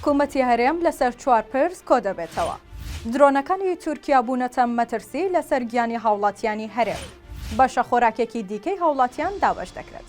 حکومەتی هەرێم لەسەر چوار پرس کۆدەبێتەوە درۆنەکانی تورکیا بوونەتە مەترسی لەسەر گیانی هاوڵاتیانی هەرێم بەشە خۆراکێکی دیکەی هاوڵاتیان دابش دەکرێت.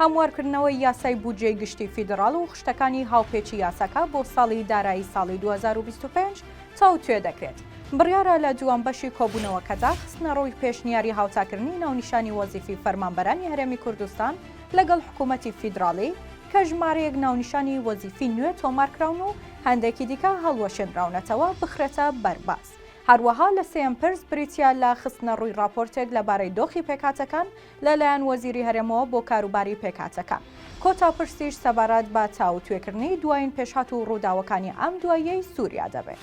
هەموارکردنەوەی یاسای بودجەی گشتی فیدڕاڵ و خشتەکانی هاوپێچی یاساکە بۆ ساڵی دارایی ساڵی دوو هەزار و بیست و پێنج تاوتوێ دەکرێت. بڕیارە لە دووەم بەشی کۆبوونەوەکەدا خستنەڕووی پێشنیاری هاوتاکردنی ناونیشانی وەزیفی فەرمانبەرانی هەرێمی کوردستان لەگەڵ حکوومەتی فیدڕاڵی کە ژمارەیەک ناونیشانی وەزیفی نوێ تۆمارکراون و هەندێکی دیکە هەڵوەشێنراونەتەوە بخرێتە بەرباس. هەروەها لە سێیەم پرس بریتییە لە خستنەڕووی ڕاپۆرتێک لەبارەی دۆخی پێکهاتەکان لە لایەن وەزیری هەرێمەوە بۆ کاروباری پێکهاتەکان. کۆتا پرسیش سەبارەت بە تاوتوێکردنی دوایین پێشهات و ڕووداوەکانی ئەم دواییەی سووریا دەبێت.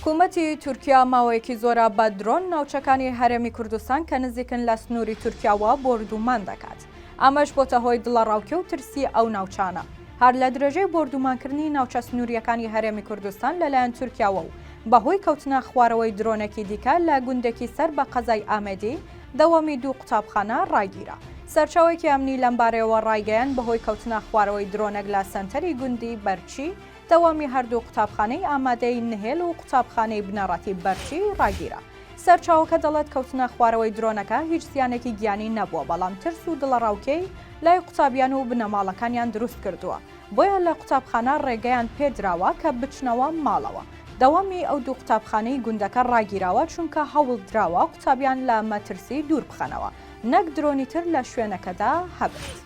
حکومەتی تورکیا ماوەیەکی زۆرە بە درۆن ناوچەکانی هەرێمی کوردستان کە نزیکن لە سنووری تورکیاوە بۆردوومان دەکات، ئەمەش بۆتە هۆی دڵەڕاوکێ و ترسی ئەو ناوچانە. هەر لە درێژەی بۆردوومانکردنی ناوچە سنوورییەکانی هەرێمی کوردستان لەلایەن تورکیاوە و بەهۆی کەوتنە خوارەوەی درۆنێکی دیکە لە گوندێکی سەر بە قەزای ئامێدی، دەوامی دوو قوتابخانە ڕاگیرا. سەرچاوەێکی ئەمنی لەمبارەیەوە ڕایگەیان بەهۆی کەوتنە خوارەوەی درۆنەک لە سەنتەری گوندی بەرچی، دەوامی هەردوو قوتابخانەی ئامادەی نهێل و قوتابخانەی بنەڕەتی بەرچی ڕاگیرا. سەرچاوەکە دەڵێت کەوتنە خوارەوەی درۆنەکە هیچ زیانێکی گیانی نەبووە بەڵام ترس و دڵەڕاوکێی لای قوتابیان و بنەماڵەکانیان دروست کردووە. بۆیە لە قوتابخانە ڕێگەیان پێدراوە کە بچنەوە ماڵەوە. دەوامی ئەو دوو قوتابخانەی گوندەکە ڕاگیراوە چونکە هەوڵدراوە قوتابیان لە مەترسی دوور بخەنەوە نەک درۆنی تر لە شوێنەکەدا هەبێت.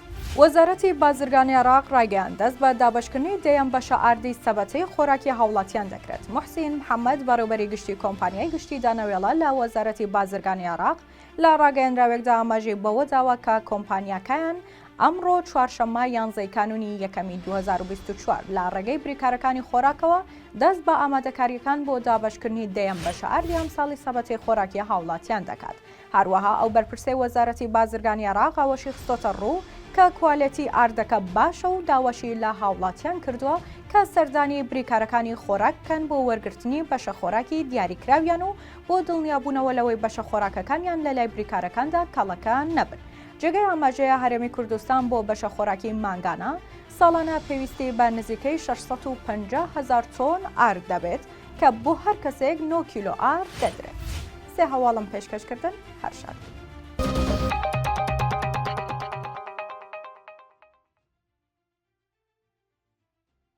وەزارەتی بازرگانی عێراق ڕایگەیاند، دەست بە دابەشکردنی دەیەم بەشە ئاردی سەبەتەی خۆراکی هاوڵاتیان دەکرێت. موحسین محەمەد، بەڕێوبەری گشتی کۆمپانیای گشتی دانەوێڵە لە وەزارەتی بازرگانی عێراق، لە ڕاگەیەنراوێکدا ئاماژەی بەوەداوە کە کۆمپانیاکەیان ئەمڕۆ چوارشەممە یانزەی کانونی یەکەمی 2024 لە ڕێگەی بریکارەکانی خۆراکەوە دەست بە ئامادەکاریەکان بۆ دابەشکردنی دەیەم بەشە ئاردی ئەمساڵی سەبەتەی خۆراکی هاوڵاتیان دەکات هەروەها ئەو بەرپرسەی وەزارەتی بازرگانی عێراق ئەوەشی خستۆتە ڕوو کە کوالێتی ئاردەکە باشە و داواشی لە هاوڵاتیان کردووە کە سەردانی بریکارەکانی خۆراک بکەن بۆ وەرگرتنی بەشە خۆراکی دیاریکراویان و بۆ دڵنیابوونەوە لەوەی بەشە خۆراکەکانیان لە لای بریکارەکاندا کەڵەکە نەبن. جێگەی ئاماژەیە هەرێمی کوردستان بۆ بەشە خۆراکی مانگانە، ساڵانە پێویستی بە نزیکەی شەش سەد و پەنجا هەزار تۆن ئارد دەبێت کە بۆ هەر کەسێک نۆ کیلۆ ئارد دەدرێت. سێ هەواڵم پێشکەش کردن، هەر شاد بن.